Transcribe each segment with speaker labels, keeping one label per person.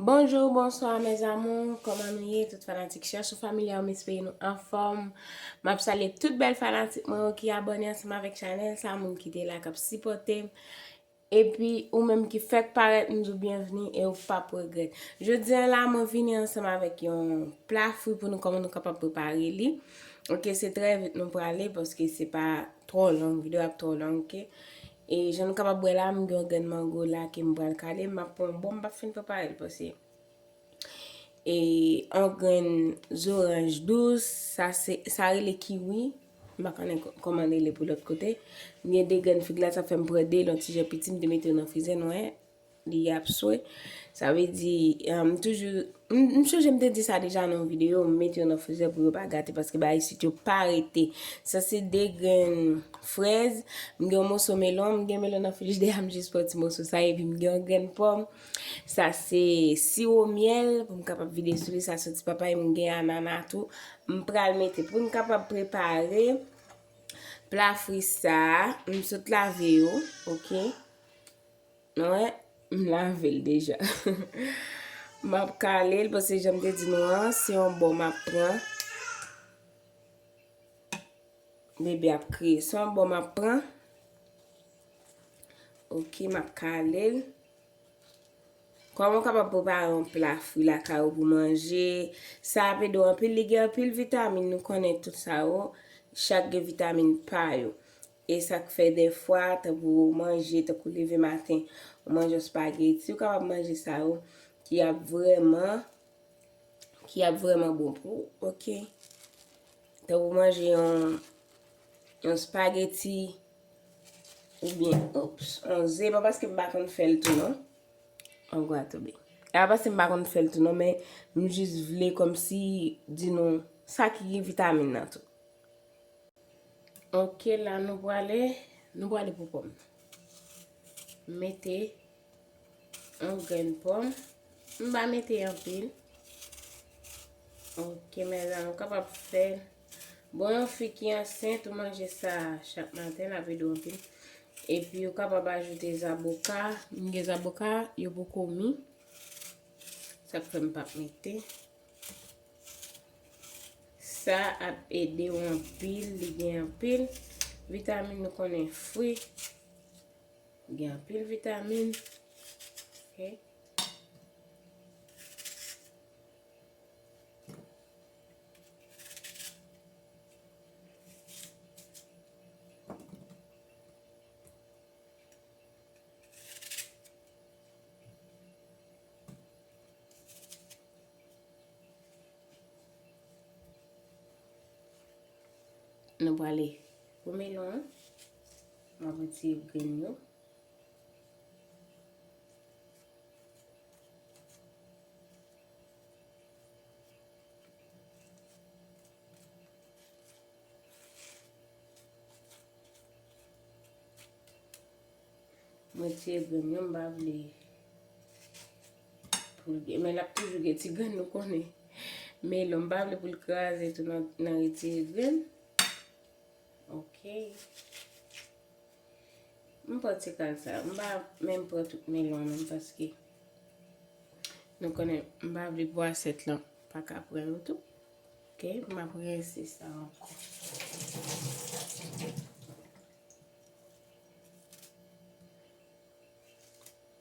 Speaker 1: Bonjour bonsoir mes amours kòman nou ye tout fanatik chèchou familya yo m espere nou anfòm map salye tout bèl fanatik mwen yo ki abòne ansanm avèk chanèl sa moun ki te la kap sipòte m epi ou menm ki fèk parèt m di w byenvni e ou pap regrèt jodi an la mwen vini ansanm avèk yon pla fri pou nou kòman nou kapab prepare li ok se trè vit nou prale paske se pa trò long videyo ap trò long ok E jan nou kapab wè la, m gen yon grenn mango la ke m pral kale, m ap pran yon bon, m p ap fin prepare l pase. E yon grenn zoranj dous, sa se, sa rele kiwi, m pa konnen kòman l rele pou lòt kote. M gen de grenn fig la, sa fè m pran de l yon ti jan piti, m te mete yo nan frizè, nou wè. Li ap swe. Sa vle di, m toujou, m chonje m te di sa deja nan yon videyo, m mete yo nan frizè pou yo pa gate paske bagay isit yo pa rete. Sa se 2 grenn frèz, m gen yon moso melon, m gen melon nan frijidèya m jis pran ti moso sa epi m gen yon grenn pòm. Sa se siwo myèl pou m kapab vide sou li, sa soti papay, m gen anana tou. M pral mete pou n kapab prepare pla fri sa, m sot lave yo, ok. Mwen, m lave l deja. M ap kale l pase jan m te di nou an, se yon bò m ap pran. Bebe ap kriye. Se yon bò m ap pran. Ok, m ap kale l. Kòman ou kapab prepare yon pla fwi lakay ou pou manje. Sa ap ede w anpil. Li gen anpil vitamin, nou konnen tout sa yo. Chak gen vitamin pa yo. E sa k fè dèfwa, tankou ou manje, tankou leve maten, ou manje yon spageti, ou kapab manje sa yo ki ap vrèman, ki ap vrèman bon pou ou, ok. Tankou manje yon, yon spageti, oubyen, oupss, yon ze, pa paske m pa konn fè l tou non. An gwa tou bi. E pa paske m pa konn fè l tou non, men m jis vle kòmsi di nou sa ki gen vitamin nan tou. Ok la nou prale Nou prale pou pòm nan Mete Yon grenn pòm M pa mete anpil Ok mèzanmi ou kapab fè Bon yon fi ki ansent ou manje sa chak maten l ap ede w anpil Epi ou kapab ajoute zaboka M gen zaboka yo poko mi Sa k fè m pa mete Sa ap ede w anpil, li gen anpil vitamin nou konnen fwi gen anpil vitamin. Nou prale pou melon an. M ap retire grenn yo. M retire grenn yo m pa vle. Poul gen men lap toujou gen ti grenn nou konnen. Melon m pa vle poul kraze tou nan retire grenn. Ok. M pran ti kal sa. M pa menm pran tout melon nan paske nou konnen m pa vle pou asyèt lan pa ka pran yo tou. Ok. M ap rense sa ankò.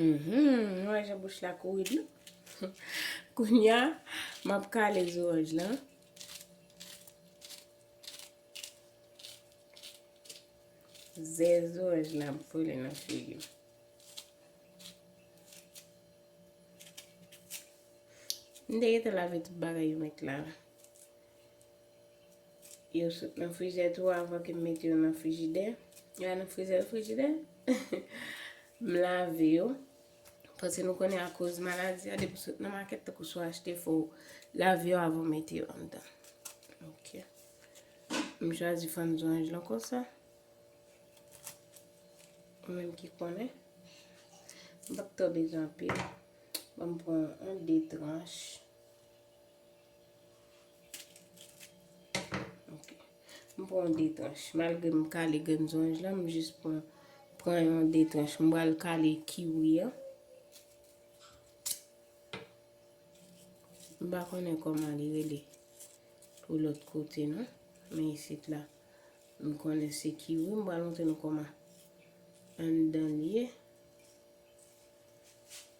Speaker 1: Mhumm nou wè jan bouch la kouri dlo kounya map kale zoranj lan ze zoranj lan ap vole nan figim m te gete lave tout bagay yo met la. Yo sot nan frijidè tou avan ke m mete yo nan frijidè. Yo al nan frizè, frijidè. M lave yo. Paske nou konnen akoz maladi a, depi sot nan makèt tankou sou achte fo, lave yo avan mete yo anndan. Ok. M chwazi fann zonj lan konsa. Ou menm ki konnen. M pa k tò bezwen anpil. Bon m pran 1, 2 tranch. M pran yon de tranche. Malgre m kale grenn zonj la, m jis pran yon de tranche. M pral kale kiwi an. M pa konnen kòman li rele pou lòt kote non. Men isit la, m konnen se kiwi. M pral montre nou kòman anndan li ye.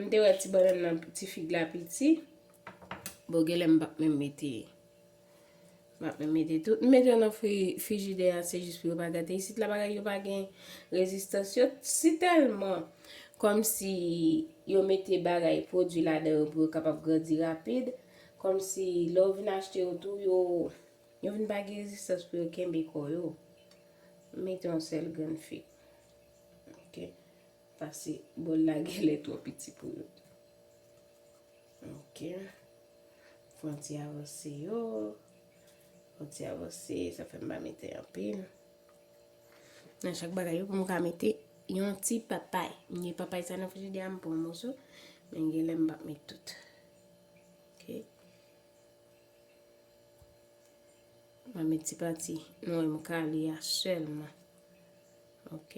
Speaker 1: M te wè ti bannann nan ti fig la piti. Bon genlè m pap menm mete. M pap menm mete tout. M mete yo nan frijidè a se jis pou yo pa gate. Isit la bagay yo pa gen rezistans yo. Si tèlman kòm si yo mete bagay pwodui ladan yo pou yo kapab grandi rapid. Kòm si lè ou vin achte yo tou yo. Yo vin pa gen rezistans pou yo kenbe kò yo. M mete yon sèl grenn fig. Ok. Pase bòl la genlè twò piti pou yo. Ok. Fè yon ti avanse yo. Fè yon ti avanse. Sa fè m pa mete anpil. Nan chak bagay yo pou m ka mete yon ti papay. M gen papay sa nan frijidè a m pran yon moso. Men genlè m pa met tout. Ok. Mwen met ti pati nou wèm kale a sèlman. Ok.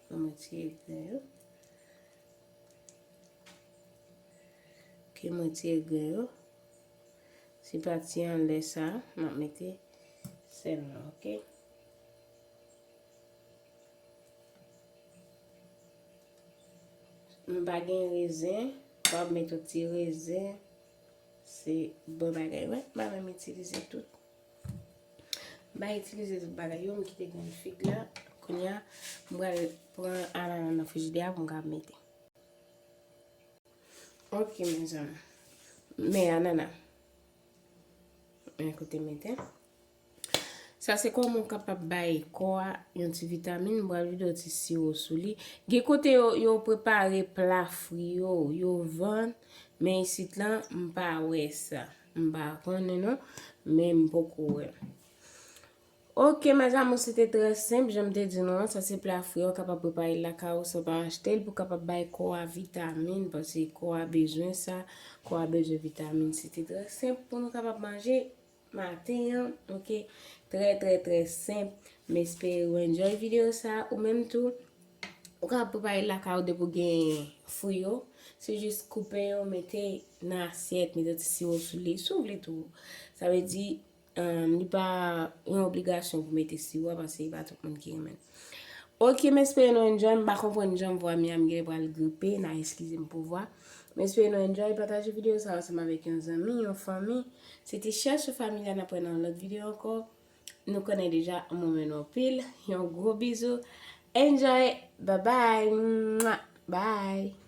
Speaker 1: Mwen met ti egre yo. Ok, mwen ti egre yo. Ti pati an lè sa, mwen mete sèlman. Ok. Mwen pa gen rezen, mwen pa met yon ti rezen. Se bon bagay wi mwen menm itilize tout. Mwen itilize tout bagay yo mwen kite grenn fig la kounya mwen pral pran anana nan frijidè a pou mwen ka mete. Ok mezanmi. Men anana. Mwen kote mete. Sa se kòman ou kapab bay kò a yon ti vitamin, m pral vide yon ti siwo sou li. Gen kote yo, yo prepare pla fri yo, yo vann, men isit lan, m pa wè sa. M pa konnen non, men m poko wè. Ok mes amours, se te trè senp, jan m te di nou an, sa se pla fri yo, ou kapab prepare l lakay ou san pa achte l, pou w kapab bay kò a vitamin, paske kò a bezwen sa, kò a bezwen vitamin. Se te trè senp pou nou kapab manje maten an ok trè trè trè senp m espere ou enjoy video sa ou menm tou ou ka prepare l lakay ou depi ou gen fri yo se jis koupe yo mete nan asyèt mete ti siwo sou li si w vle tou sa vle di li pa yon obligasyon pou mete siwo paske se pa tout moun ki renmen Ok m espere nou enjoy m pa konprann jan vwa Miam gèlè pral gripe na eskize m pou vwa m espere nou enjoy pataje video sa ansanm avèk yon zanmi yon fanmi se te chèlchou familya nap wè nan yon lòt video ankò nou konnen deja m renmen nou anpil yon gwo bizou enjoy babay mwa bye.